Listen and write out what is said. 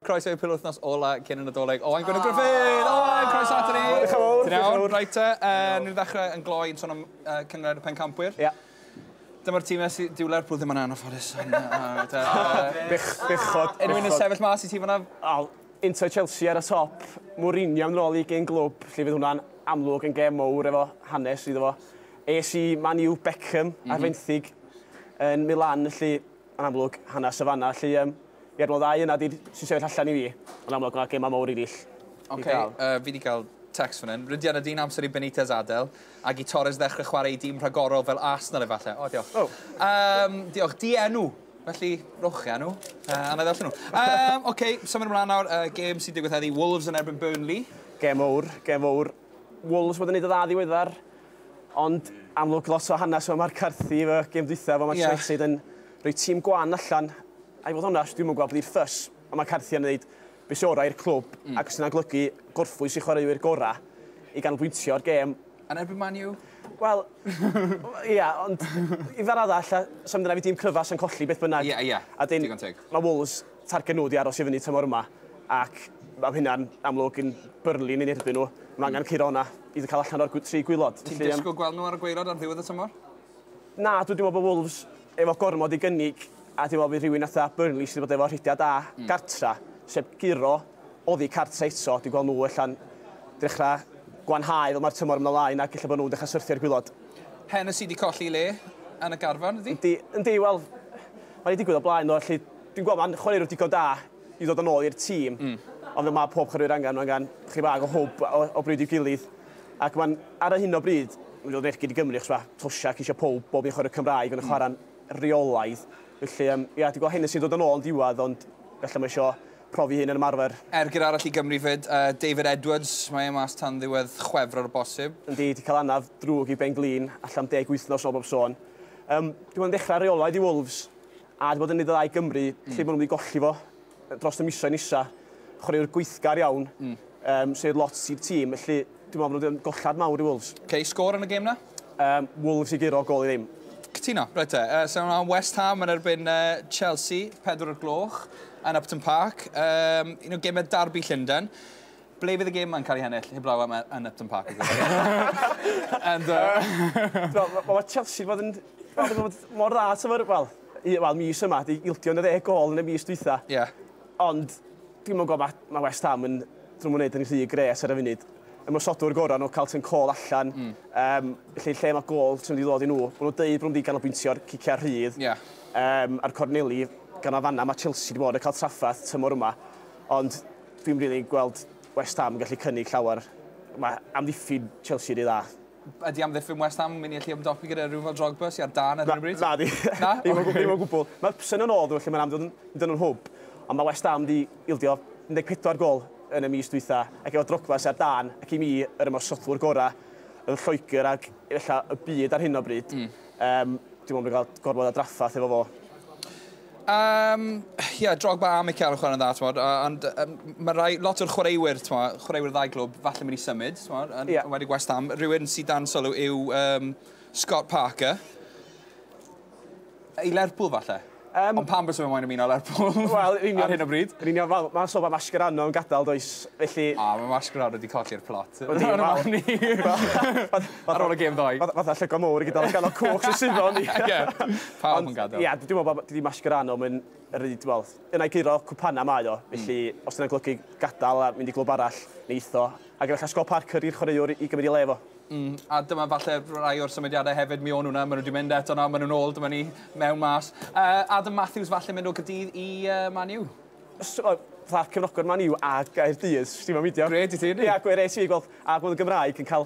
Croeso i'r penwythnos ola cyn y Nadolig. Owain Gwynedd Gruffydd! Owain, croeso ato ni! Diolch yn fawr, diolch yn fawr. Reit te, uh, ni'n ddechrau yn gloi yn sôn am uh, cyngred y pencampwyr. Ie. Yeah. Dyma'r tîm nes i dyw Lerpwl ddim yn anffodus. Bych, bichod. Unrhyw'n y sefyll mas i ti fyna? Al, Inter Chelsea ar y top, Mourinho yn ôl i gen glwb, lle fydd hwnna'n amlwg yn gem mowr efo hanes iddo fo. Es i Man U Beckham mm -hmm. ar mhm. fenthyg yn Milan, lle Yn amlwg, hanes y fana, lle yym, ie'r mor dda yna di'r sy'n sefyll allan i fi. Yn amlwg ma' gema mowr erill i gael. Ok, yy fi di gael text fan hyn. Rydyan ydy'n amser i Benitez adel, ag i Torres ddechrau chwarae i dîm rhagorol fel Arsenal efalle. O, diolch. O! Yym, diolch. Dienw! Felly, rhowch chi enw, yy, a na i ddarllen nhw. Yym, ok, symud ymlaen nawr, yy, gêm sy'n digwydd heddi, Wolves yn erbyn Burnley. Gêm mowr, gêm mowr. Wolves wedi neud yn dda ddiweddar ond amlwg lot o hanes efo Mark Carthy efo gêm dwytha efo Manchester United yn rhoi tîm gwan allan a i fod onest dwi'm yn gweld bly'r ffys ond mae Carthy yn neud be sy orau i'r clwb ac os yna'n golygu gorffwys i chwaraewyr gorau i ganolbwyntio ar gêm Yn erbyn Man U? Wel, ia, ond i ddar arall, a sa'm dyna fi dîm cryfas yn colli beth bynnag. Ia, ia, digon teg. Mae Wolves targed nhw ydi aros i fyny tymor yma ac mae hynna'n amlwg yn byrlun yn erbyn nhw. Mae angen curo hwnna i cael allan o'r tri gwylod. Ti'n disgwyl gweld nhw ar y gweilod ar ddiwedd y tymor? Na, dwi wedi meddwl bod Wolves efo gormod i gynnig a dwi'n meddwl bydd rhywun atha Burnley sydd wedi bod efo rhediad da mm. gartra, sef guro oddi cartra eto, dwi'n gweld nhw allan dechrau gwanhau fel mae'r tymor ymlaen lain ac efallai bod nhw'n dechrau syrthio'r gwylod. Hen y sydd wedi colli le yn y garfan, ydy? Yndi, yndi, wel, mae wedi digwydd o blaen, no, allu Dwi'n gweld mae'n chwaraewr digon da i ddod yn ôl i'r tîm, ond fel mae pob chwaraewr angen, mae angen chydig bach o hwb o bryd i'w gilydd. Ac mae'n, ar y hyn o bryd, mae'n dod rechgyn i Gymru, achos mae Toshack eisiau pawb, bob un chwaraewr Cymraeg, ond yn chwarae'n reolaidd. Felly, um, ia, dwi'n gweld Hennessy yn dod yn ôl yn diwedd, ond felly mae eisiau profi hyn yn ymarfer. Ergyd arall i Gymru fyd, uh, David Edwards, mae e mas tan ddiwedd chwefror o bosib. Yndi, di cael anaf drwg i Ben Glyn, allan am deg wythnos o bob sôn. Um, dwi'n dechrau reolaidd i Wolves, A 'di bod yn neud y dda i Gymru. Mm. Lle ma' nhw'n mynd i golli fo yy dros y misoedd nesa. Chwaraewr gweithgar iawn. Mm. Um, sy'n neud lot i'r tîm, felly dwi'n meddwl bod nhw'n gollad mawr i Wolves. Okay, sgôr yn y gêm na? Um, Wolves i guro, gol i ddim. Cytuno, reit te. Uh, Sef am West Ham yn erbyn uh, Chelsea, pedwr o'r gloch yn Upton Park. Um, un o gemau darbu Llundain. Ble fydd y gêm ma'n cael ei hennill heblaw am yy yn Upton Park? And uh... T'mo' ma' ma' Chelsea 'di bod yn ma' n'w bod mor dda t'mod wel u- wel mis yma 'di ildio yn y ddeg gôl yn y mis dwytha. Ie. Ond dwi'm yn gw'o' ma' ma' West Ham yn dw'm yn neud yn rhy grêt ar y funud. Ymosodwr gora' n'w Carlton Cole allan. Hmm. Yym felly lle ma' gôl sy'n mynd i ddod i n'w? Ma' n'w deud bo' n'w mynd i ganolbwyntio'r cicia rhydd. Ie. Yym a'r corneli gan y fan 'na ma' Chelsea 'di bod yn ca'l traffarth tymor yma ond Dwi'm rili yn gweld West Ham yn gallu cynnig llawer. Mae amddiffyn Chelsea ry dda. Ydy amddiffyn West Ham yn mynd i allu ymdopi gyda rhywun fel Drogba sy ar dân ar hyn o bryd? Na, nadi. Na? Ddim o ddim o gwbwl. Mae Hudson yn ôl ddo felly mae'n amlwg yn mynd yn hwb. Ond mae West Ham 'di ildio 14 gôl yn y mis dwytha, ac efo Drogba sy ar dân, ac i mi yr ymosodwr gora' yn Lloegr ac efella y byd ar hyn o bryd, yym, dwi'n meddwl bod ni'n cael gormod o draffarth efo fo. Um, yeah, Drogba a Mikel yn chwarae'n dda, tmod, ond um, mae rai, lot o'r chwaraewyr, tmod, chwaraewyr ddau glwb, falle mynd i symud, tmod, yn yeah. wedi West Ham. Rhywun sydd dan sylw yw um, Scott Parker. I Lerpwl, falle. Um, Ond pam bys yma moyn ymuno Lerpwl well, ar hyn o bryd? Yn union, wel, mae'n sôn bod Mascherano yn gadael, does, felly... A, mae Mascherano wedi colli'r plot. Oedd hi'n fawr ni. Ar ôl y gêm ddoe. Fath- fatha llygod mowr i gyd o ganol cwch sy suddo arni. Ie, pawb yn gadel. Ond, ie, dwi me'wl bo' dydi Mascherano 'im yn yr un, t'mod, yn ai guro cwpana mae o, felly os 'di wnna'n golygu gadal a mynd i glwb arall, neith o. Ag efalla Scott Parker i'r chwaraewr i gymryd 'i le fo. Mm, a dyma falle rai o'r symudiadau hefyd, mi o'n nhw 'na, ma' nhw 'di mynd eto nawr, ma' nhw'n ôl, dyma ni, mewn mas. Yy, Adam Matthews falle mynd o Gaerdydd i yy Man U? Os o- fatha cefnogwr Man U a Gaerdydd, sdim am beidio. Gred i ti, yndi? Ia, gwir, es i i gweld, a gweld y Gymraeg yn ca'l